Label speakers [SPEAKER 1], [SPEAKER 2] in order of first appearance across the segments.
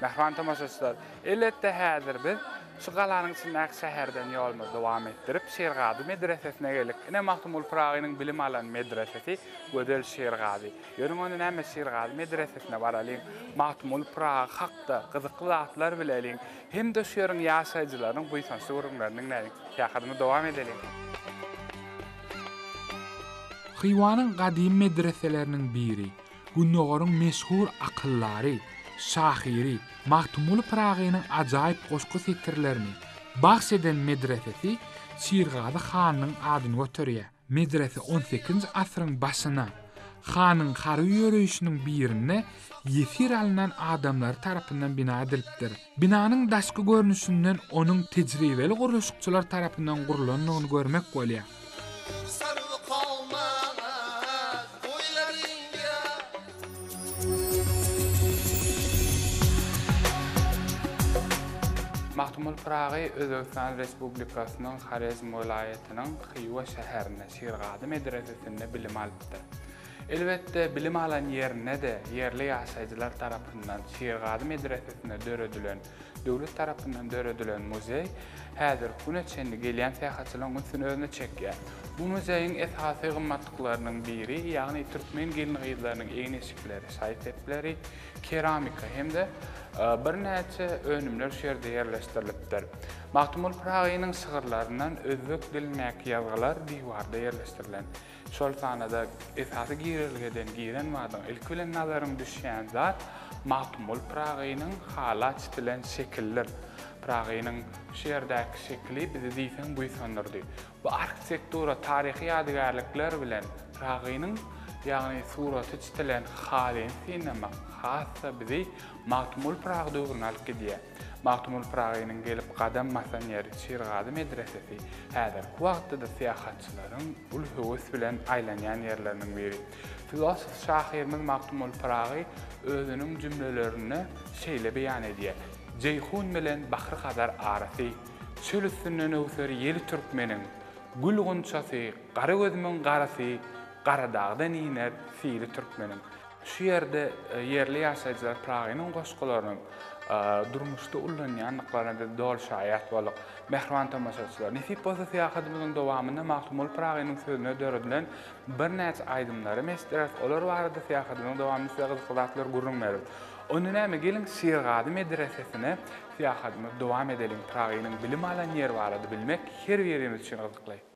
[SPEAKER 1] Mähriban tomaşaçylar, elbetde häzir biz şu galanyň içindäki şäherden ýolumyzy dowam etdirip, Şirgazy medresesine geldik. Ine Magtymguly Pyragynyň bilim alan medresesi Gözel Şirgazy. Ýörüň onda näme Şirgazy medresesine baralyň, Magtymguly Pyragy hakda gyzykly zatlar bileliň. hem-de şu ýeriň ýaşaýjylarynyň buýsançly gürrüňlerini diňläliň. Syýahatymy dowam edeliň. Hywanyň gadymy medreseleriniň biri, Gündogaryň meşhur akyldary, şahyry Magtymguly Pyragynyň ajaýyp goşgy setirlerini bagş eden medresesi Şirgazy hanyň adyny göterýär. Medrese on sekizinji asyryň başyna hanyň harby ýöreýşiniň birinde ýesir alnan adamlary tarapyndan bina edilipdir. Binanyň daşky görnüşinden onuň tejribeli gurluşykçylar tarapyndan gurlandygyny görmek bolýar. Magtymguly Pyragy Özbegistan Respublikasynyň Horezm welaýatynyň Hywa şäherinde, Şirgazy medresesinde bilim alypdyr. Elbetde, bilim alan ýerinde-de ýerli ýaşaýjylar tarapyndan Şirgazy medresesinde döredilen, döwlet tarapyndan döredilen muzeý häzirki güne çenli gelýän syýahatçylaryň ünsüni özüne çekýär. Bu muzeýiň esasy gymmatlyklarynyň biri, ýagny türkmen gelin-gyzlarynyň egin-eşikleri, şaý-sepleri, keramika hem-de birnäçe önümler şu ýerde ýerleşdirilipdir. Magtymguly Pyragynyň şygyrlaryndan özbek dilindäki ýazgylar diwarda ýerleşdirilen. Şol sanada esasy girelgeden giren badyň ilki bilen nazaryň düşýän zat Magtymguly Pyragynyň hala çitilen şekildir. Pyragynyň şu ýerdäki şekili bizi diýseň buýsandyrdy. Bu arhitektura, taryhy ýadygärlikler bilen Pyragynyň, ýagny suraty çitilen halyny synlamak has-da bizi Magtymguly Pyragy döwrüne alyp gidýär. Magtymguly Pyragynyň gelip gadam basan ýeri Şirgazy medresesi häzirki wagtda-da syýahatçylaryň uly höwes bilen aýlanýan ýerleriniň biri. Filosof şahyrymyz Magtymguly Pyragy özüniň jümlelerinde şeýle beýan edýär, Jeýhun bilen Bahry-Hazar arasy, Çöl üstünden öwser ýeli türkmeniň, Gül gunçasy, gara gözümiň garasy, Garadagdan iner sili türkmeniň. Şu ýerde ýerli ýaşaýjylar Pyragynyň goşgularyny durmuşda ullanýandyklaryna biz doly şaýat bolduk. Mähriban tomaşaçylar, nesip bolsa syýahatymyzyň dowamynda Magtymguly Pyragynyň sözüne döredilen birnäçe aýdymlary hem eşitdireris, olar barada syýahatymyzyň dowamynda size gyzykly zatlary gürrüň bereris. Onda näme, geliň, Şirgazy medresesine syýahatymyzy dowam edeliň. Pyragynyň bilim alan ýeri barada bilmek her birimiz üçin gyzykly.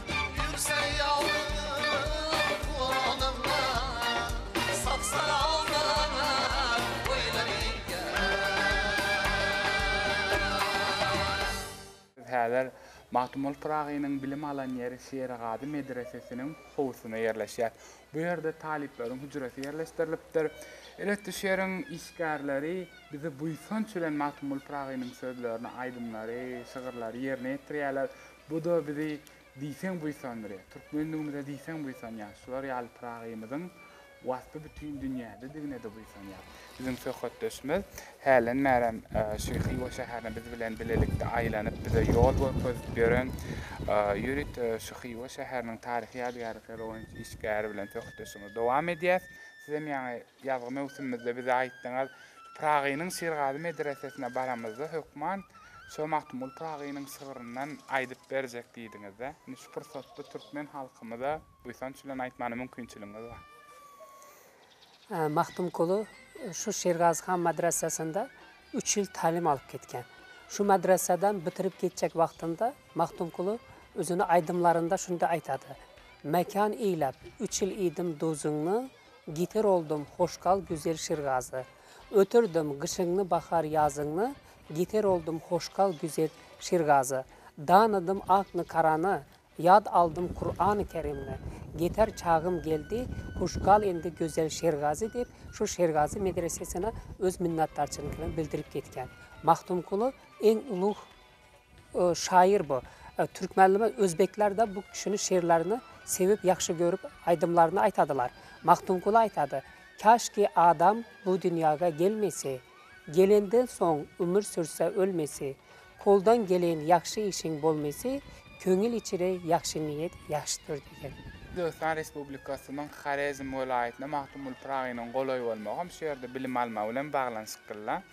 [SPEAKER 1] Biz häzir Magtymguly Pyragynyň bilim alan ýeri Şerigady medresesiniň howusynda ýerleşýäs. Bu ýerde talyplaryň hüjresi ýerleşdirilipdir. Elbetde, şu ýeriň işgärleri bizi buýsanç bilen Magtymguly Pyragynyň sözlerini, aýdymlary, şygyrlary ýerine ýetirýärler. Bu-da bizi diýseň buýsandyrýar. Türkmenligimize diýseň buýsanýarys. Şular ýaly Pyragymyzyň waspy bütin dünýäde-digine-de buýsanýar. Biziň söhbetdeşimiz hälen bärem şu Hywa şäherine biz bilen bilelikde aýlanyp, bize ýol görkezip ýören ýörite şu Hywa şäheriniň taryhy ýadygärlikleri boýunça işgäri bilen söhbetdeşligimizi dowam edýäs. Sizem ýaňy Ýazgy möwsümimizde bize aýtdyňyz, Pyragynyň Şirgazy medresesine baramyzda hökman şo Magtymguly Pyragynyň şygryndan aýdyp berjek diýdiňiz-dä. Indi şu pursatda türkmen halkymyza buýsanç bilen aýtmana mümkinçiligiňiz bar.
[SPEAKER 2] Magtymguly şu Şirgazy han madresesinde üç ýyl talim alyp gitgen. Şu madresadan bitirip gitjek wagtynda Magtymguly özüni aýdymlarynda şunday aýtady, Mekan eýläp, üç ýyl iýdim duzyňy, Giter oldum hoş gal güzel Şirgazy Ötürdim gyşyňny bahar ýazyňny Giter oldum hoş gal güzel Şirgazy Danydym akny karany Ýad aldym Kurany Kerimni Geter çagym geldi Huş gal indi gözel Şirgazy diýip şu Şirgazy medresesine öz minnatdarçylygyny bildirip gitgen Magtymguly iň ulug Şaýyr bu. Türkmenleme özbekler-de bu kişini şirlerini sevip ýagşy görüp aýdymlaryny aýtadylar. Magtymguly aýtady, Käşki adam bu dünýäge gelmese, Gelenden soň ömür sürse ölmese, Koldan gelen ýagşy işiň bolmese, Köňül içre ýagşy niýet ýagşydyr diýen. Özbegistan
[SPEAKER 1] Respublikasynyň Horezm welaýatyna Magtymguly Pyragynyň golaý bolmagam şu ýerde bilim almagy bilen baglanyşyklyla.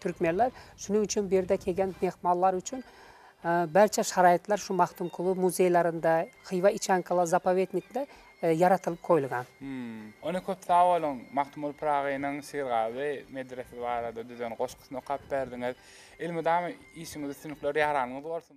[SPEAKER 2] Türkmenler şunuň üçin bu ýerde kelgen myhmanlar üçin barça şaraýatlar şu Magtymguly muzeýlerinde, Hywa içankalar zapowetnikde ýaratylyp goýulgan. Ony köp
[SPEAKER 1] sag boluň, Magtymguly Pyragynyň Syrgazy medresesi barada düzen goşgusyny okap berdiňiz. Elmydama işiňiz üstünlikler ýaranyňyz bolsun.